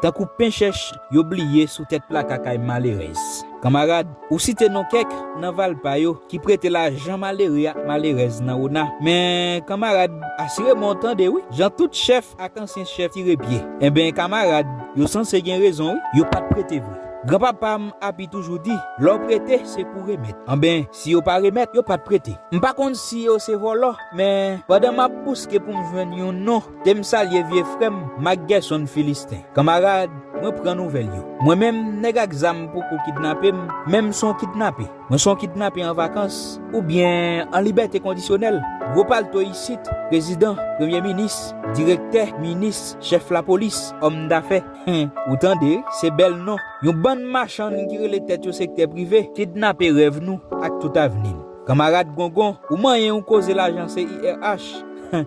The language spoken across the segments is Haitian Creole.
Tankou pen chèch yo bliye sou tèt plaka kay malerèz. Kanmarad, ou site non kèk nan valpa yo ki prete lajan malere ak malerèz nan ona. Men, kanmarad, asire mwen w tande wi, jan tout chèf ak ansyen chèf tire pye. Enben, kanmarad, yo sanse gen rezon wi, yo pa t prete vre. Gran papa m Api toujou di, lè w prete, se pou w remèt. Anben, si yo pa remèt, yo pa t prete. M pa konn si yo se vòlò, men, pandan m ap bouske pou m jwenn yon non, Te m salye vye frè m Mak Gèson Filisten Kanmarad, mwen pran nouvèl yo Mwen menm, nèg ak zam poko kidnape m Men m s on kidnape Mwen s on kidnape an vakans Oubyen an libète kondisyonèl Gwo palto isit Prezidan Premye minis Direktè Minis Chèf lapolis Òm dafè Hen Ou tande Se bèl non Yon bann machann ki rele tèt yo sektè prive Kidnape rèv nou Ak tout avni n Kanmarad Gongon Ou manyen yon koze lajan CIRH Hen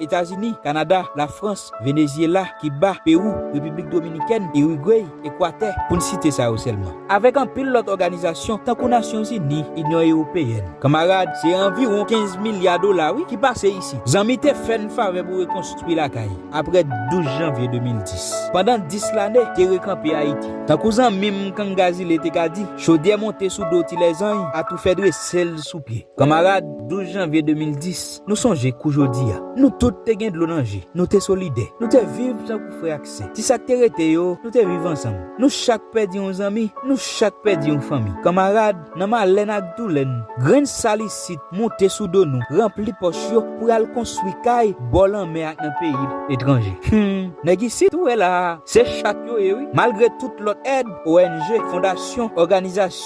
Etazini, Kanada, Lafrans, Venezyela, Kiba, Pewou, Repiblik Dominikèn, Irigwey, Ekwatè, pou n site sa yo sèlman. Avèk anpil lòt òganizasyon tankou Nasyon Zini, Inyon Ewopeyèn. Kanmarad, se anviwon 15 milya dola wi ki pase isit. Zanmi te fè n favè pou rekonstwi lakay, aprè 12 janvye 2010. Pandan 10 lane, te rekanpe Ayiti. Tankou zanmi m Kangazile te ka di, chodyè monte sou do tilèzany, atoufè drese l sou pye. Kanmarad, 12 janvye 2010, Nou sonje kou jodi a. Nou tout te gen dlo nan je. Nou te solidè. Nou te viv tankou frè ak sè. Ti sa k te rete yo, nou te viv ansanm. Nou chak pèdi yon zanmi, nou chak pèdi yon fanmi. Kanmarad, nan malè n ak doulè n, grenn sal isit moute sou do nou, ranpli pòch yo pou y al konstwi kay bò lanmè ak nan peyi etranje. Hum! Nèg isit ou wè la a, se chat yo ye wi. Malgre tout lòt èd, ong, fondasyon, òganizasyon.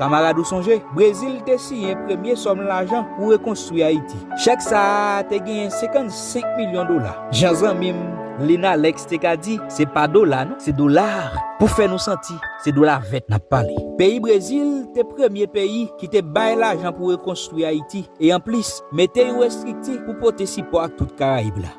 Kamarad ou sonje, Brezil te siyen premye sòm lajan pou rekonstwi Ayiti. Chèk sa a te genyen 55 milyon dola. Jan zanmi m, Lynn Alex te ka di, se pa dola non, se dollars, pou fè nou santi se dola vèt n ap pale. Peyi Brezil te premye peyi ki te bay lajan pou rekonstwi Ayiti e anplis mete yon estrikti pou pote sipò ak tout Karayib la.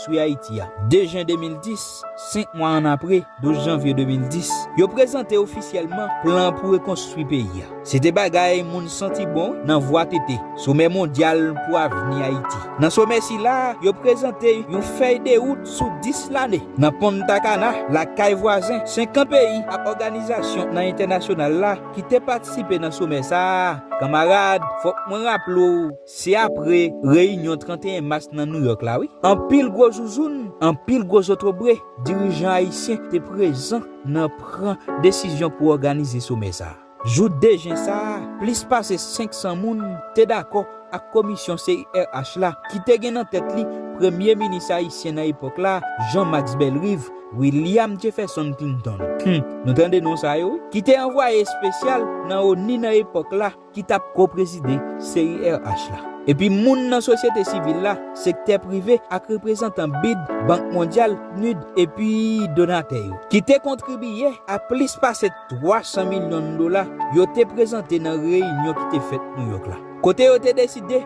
Swi Ayiti a. 2 jen 2010, 5 mwa annapre, 12 janvye 2010, yo prezante ofisyèlman plan pou rekonstwi peyi a. Se te bagay moun santi bon nan vwa tete, Somè Mondyal pou Avni Ayiti. Nan somè sila, yo prezante yon fèy de wout sou 10 lane. Nan Punta Cana, lakay vwazen, 50 peyi ak òganizasyon nan entènasyonal la ki te patisipe nan somè sa a, kanmarad, fòk mwen raple w, Se apre reyinyon 31 mas nan Nouyòk la wi. Anpil gwo zouzoun, anpil gwo zotobre dirijan ayisyen te prezan nan pran desizyon pou òganize somè sa a. Jou 2 jen sa a, plis pase 500 moun te dakò ak komisyon CIRH la ki te gen nan tèt li premye minis ayisyen nan epòk la, Jean Max Bellerive, William Jefferson Clinton, hum nou tande non sa yo wi, ki te anvwaye espesyal nan onu nan epòk la, ki t ap ko-prezide CIRH la, epi moun nan sosyete sivil la, sektè prive ak reprezantan bid, Bank Mondyal, PNUD, epi donatè yo, ki te kontribiye a plis pase 300 milyon dola yo te prezante nan reyinyon ki te fèt Nouyòk la, kote yo te deside.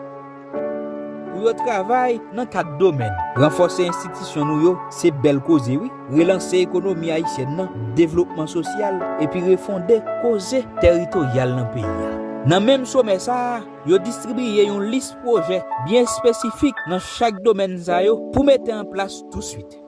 Pou yo travay nan 4 domèn, ranfòse enstitisyon nou yo, se bèl koze wi, relanse ekonomi ayisyèn nan, devlopman sosyal, epi refonde koze teritoryal nan peyi a. Nan menm somè sa a, yo distribiye yon lis pwojè byen espesifik nan chak domèn sa yo pou mete an plas tousuit.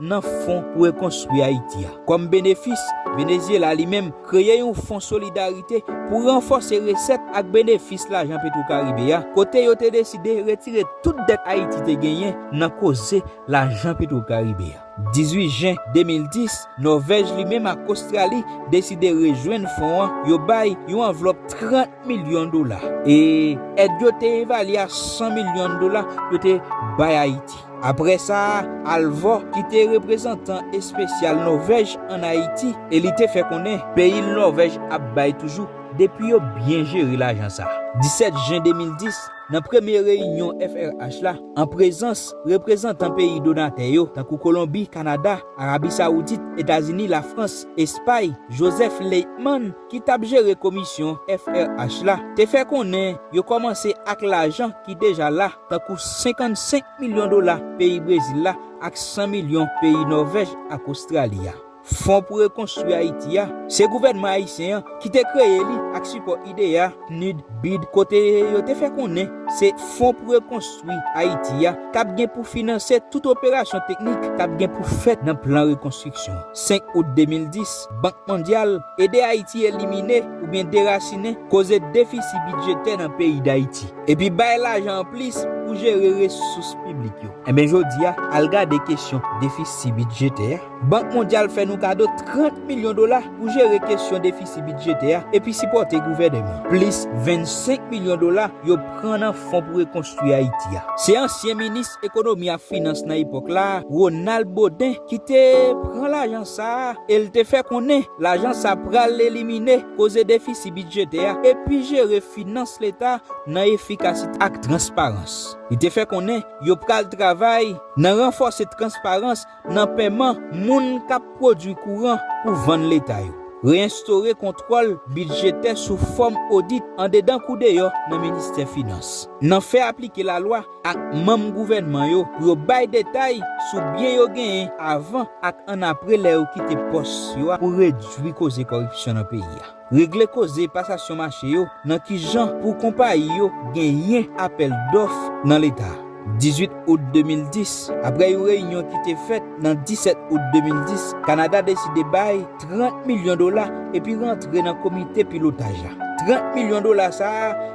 nan fon pou rekonstwi Ayiti a. Kòm benefis, Venezyela li menm kreye yon fon solidarite pou ranfòse resèt ak benefis lajan Petwokaribe a, kote yo te deside retire tout dèt Ayiti te genyen nan koze lajan Petwokaribe a. 18 jen 2010, Nòvèj li menm ak Ostrali deside rejwenn fon an, yo bay yon anvlòp 30 milyon dola, e èd yo te evalye a 100 milyon dola yo te bay Ayiti. Apre sa, Halvor, ki te reprezantan espesyal Nòvèj ann Ayiti, e li te fè konnen peyi l Nòvèj ap bay toujou depi yo byen jere lajan sa. 17 jen 2010, nan premye reyinyon FRH la, an prezans reprezantan peyi donatè yo, tankou Kolonbi, Kanada, Arabi Sawoudit, Etazini, Lafrans, Espay, Joseph Leithman, ki t ap jere komisyon FRH la, te fè konnen yo kòmanse ak lajan ki deja la, tankou 55 milyon dola peyi Brezil la ak 100 milyon peyi Nòvèj ak Ostrali a. Fon pou rekonstwi Ayiti a, se gouvènman ayisyen an ki te kreye li ak sipò IDEA, PNUD, bid, kote yo te fè konnen se Fon pou rekonstwi Ayiti a k ap gen pou finanse tout operasyon teknik k ap gen pou fèt nan plan rekonstriksyon. 5 out 2010, Bank Mondyal ede Ayiti elimine oubyen derasinen koze defisi bidjetè nan peyi Dayiti. Epi bay lajan anplis pou jere resous piblik yo. Enben jodi a, al gade kesyon defisi bidjetè a. Bank Mondyal fè nou kado 30 milyon dola pou jere kesyon defisi bidjetè a epi sipòte gouvèneman. Plis 25 milyon dola yo pran nan Fon pou Rekonstwi Ayiti a. Se ansyen minis ekonomi ak finans nan epòk la, Ronald Baudin ki te pran lajan sa a e l te fè konnen lajan sa pral elimine koze defisi bidjetè a epi jere finans leta nan efikasite ak transparans. Li te fè konnen yo pral travay nan ranfòse transparans nan peman moun k ap pwodui kouran pou vann leta yo, reyenstore kontwòl bidjetè sou fòm odit andedan kou deyò nan ministè finans, nan fè aplike lalwa. ak manm gouvènman yo pou yo bay detay sou byen yo genyen avan ak annapre lè yo kite pòs yo a pou redui koze kòripsyon nan peyi a. Regle koze pasasyon mache yo nan kijan pou konpayi yo genyen apèl dòf nan Leta a. 18 out 2010, Aprè yon reyinyon ki te fèt nan 17 out 2010, Kanada deside bay 30 milyon dola epi rantre nan komite pilotaj la. 30 milyon dola sa a.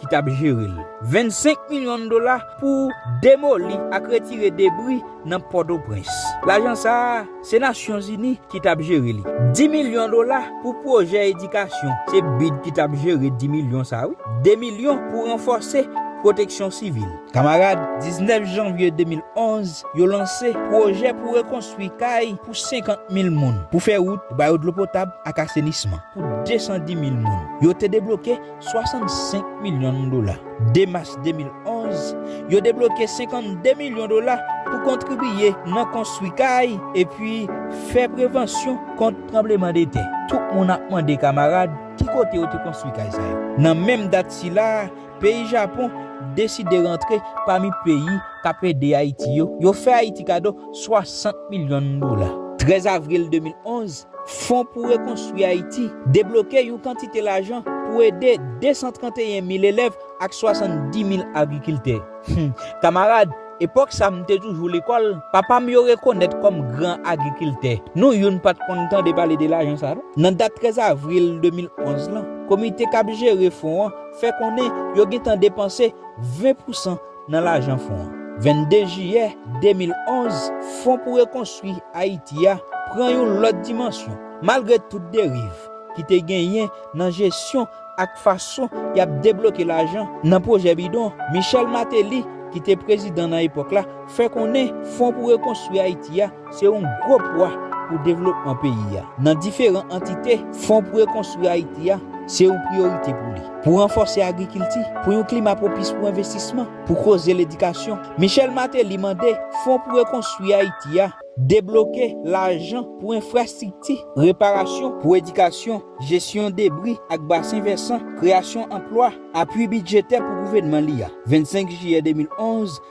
ki t ap jere l, 25 milyon dola pou demoli ak retire debri nan Pòtoprens. Lajan sa a, se Nasyonzini ki t ap jere li. 10 milyon dola pou pwojè edikasyon, se bid ki t ap jere 10 milyon sa a wi. 2 milyon pou ranfòse pwoteksyon sivil. Kamarad, 19 janvye 2011, yo lanse pwojè pou rekonstwi kay pou 50 mil moun, pou fè wout, pou ba yo dlo potab ak asenisman pou 210 mil moun. Yo te debloke. 65 milyon dola. 2 mas 2011, yo debloke 52 milyon dola pou kontribiye nan konstwi kay epi fè prevansyon kont tranbleman de tè. Tout moun ap mande kamarad ki kote yo te konstwi kay sa yo. Nan menm dat sila, peyi Japon deside rantre pami peyi k ap ede Ayiti yo, yo fè Ayiti kado 60 milyon dola. 13 avril 2011, Fon pou Rekonstwi Ayiti debloke yon kantite lajan pou ede 231 mil elèv ak 70 mil agrikiltè. Hum! Kamarad, epòk sa m te toujou lekòl, papa m yo rekonèt kòm gran agrikiltè. Nou youn pa t konn tande pale de lajan sa non. Nan dat 13 avril 2011 lan, komite k ap jere fon an fè konnen yo gentan depanse 20 pousan nan lajan fon an. 22 jiyè 2011, Fon pou Rekonstwi Ayiti a pran yon lòt dimansyon. Malgre tout deriv ki te genyen nan jesyon ak fason y ap debloke lajan nan pwojè bidon, Michel Martelly ki te prezidan nan epòk la fè konnen Fon pou Rekonstwi Ayiti a Se yon gwo pwa pou devlopman peyi a. Nan diferan antite, Fon pou Rekonstwi Ayiti a se yon priyorite pou li. Pou ranfòse agrikilti, pou yon klima pwopis pou envestisman, pou koze ledikasyon, Michel Martelly mande Fon pou Rekonstwi Ayiti a debloke lajan pou enfrastrikti, reparasyon, pou edikasyon, jesyon debri ak basen vèsan, kreyasyon anplwa, apui bidjetè pou gouvènman li a. 25 jiyè 2011,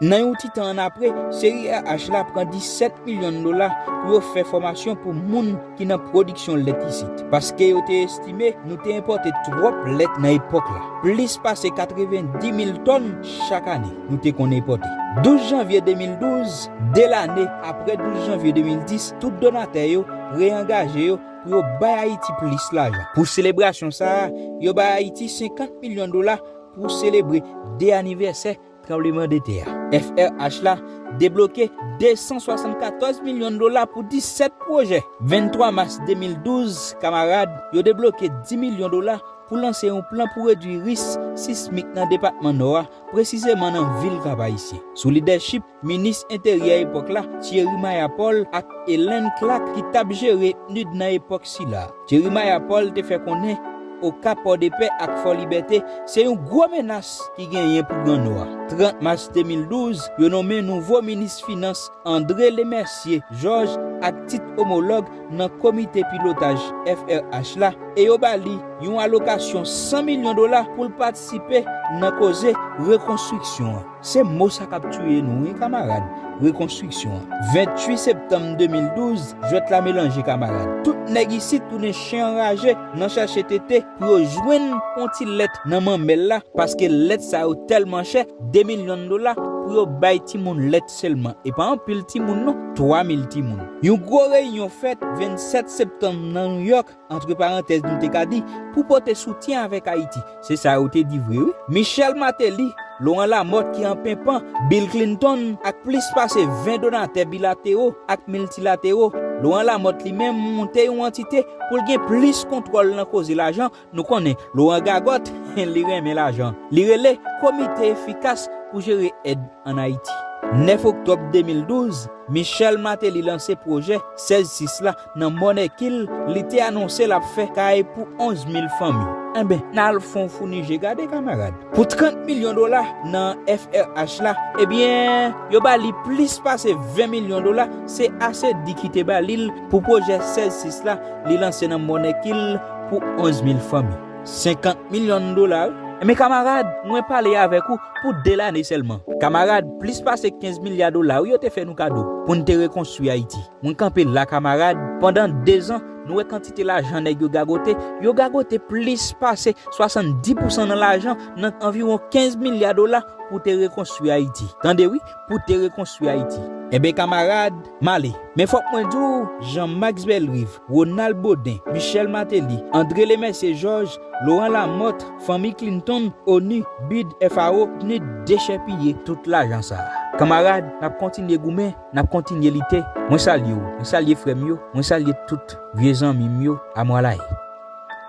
Nan yon ti tan annapre, seri RH la pran 17 milyon dola pou yo fè fòmasyon pou moun ki nan pwodiksyon lèt isit, paske yo te estime nou te enpòte twòp lèt nan epòk la, plis pase 90 mil tòn chak ane nou te konn enpòte. 12 janvye 2012, 2 lane apre 12 janvye 2010, tout donatè yo reyangaje yo pou yo bay Ayiti plis lajan. Pou selebrasyon sa a, yo bay Ayiti 50 milyon dola pou selebre 2 anivèsè Tranbleman de tè a, FRH la debloke 274 milyon dola pou 17 pwojè. 23 mas 2012, Kamarad yo debloke 10 milyon dola pou lanse yon plan pou redwi ris sismik nan depatman Nò a, presizeman nan vil Kap-Ayisyen. Sou lidèchip minis enteryè epòk la, Thierry Mayapol ak Helen Clark ki t ap jere PNUD nan epòk sila. Jerimaya Paul te fè konnen Okap, Pòdepè ak Fòlibète se yon gwo menas ki genyen pou Gran Nò a. 30 mas 2012, yo nonmen nouvo minis finans André Lemercier Georges ak tit omològ nan komite pilotaj FRH la e yo ba li yon alokasyon 100 milyon dola pou l patisipe nan koze rekonstriksyon an. Se mo sa kap tuye nou wi kamarad, rekonstriksyon. 28 septanm 2012, jwèt la melanje kamarad. Tout nèg isit tounen chen anraje nan chache tete pou yo jwenn yon ti lèt nan manmèl la paske lèt sa yo tèlman chè, 2 milyon dola pou yo bay timoun lèt sèlman e pa anpil timoun non, 3 mil timoun. Yon gwo reyinyon fèt 27 septanm nan Nouyòk. Antre parantèz nou te ka di, pou pote soutyen avèk Ayiti. Se sa yo te di vre wi. Michel Martelly, Laurent Lamothe ki an penpan, Bill Clinton ak plis pase 20 donatè bilatero ak miltilatero. Laurent Lamothe li menm monte yon antite pou l gen plis kontwòl nan koze lajan, nou konnen Laurent gagòt, li renmen lajan. Li rele Komite Efikas pou Jere Èd an Ayiti. 9 oktòb 2012, Michel Martelly lanse pwojè 16 sis la Nan bon èki l, li te anonse l ap fè kay pou 11 mil fanmi. Enben, n al fon founi je gade, kamarad. Pou 30 milyon dola nan FRH la, ebyen, yo ba li plis pase 20 milyon dola, se ase di ki te ba li l pou pwojè 16 sis la li lanse nan bon èki l pou 11 mil fanmi. 50 milyon dola wi. Enben, kamarad, mwen pale avèk ou pou 2 lane sèlman. Kamarad, plis pase 15 milya dola wi yo te fè nou kado pou n te rekonstwi Ayiti. Mwen kanpe la kamarad, pandan 2 zan, nou wè kantite lajan nèg yo gagote, yo gagote plis pase 70 pousan nan lajan nan anviwon 15 milya dola pou te rekonstwi Ayiti. Tande wi, pou te rekonstwi Ayiti. Enben kamarad, m ale. Men fòk mwen di w, Jan Maks Bèlriv, Wonal Boden, Michèl Mateli, Andre Lemèsye Jòj, Loran Lamòt, Fanmi Klintonn, onu, bid, FAO, pnud dechèpiye tout lajan sa a. Kamarad, n ap kontinye goumen. Nap kontinye lite. Mwen salye w. Mwen salye frè m yo. Mwen salye tout vye zanmi m yo. Amwalaye.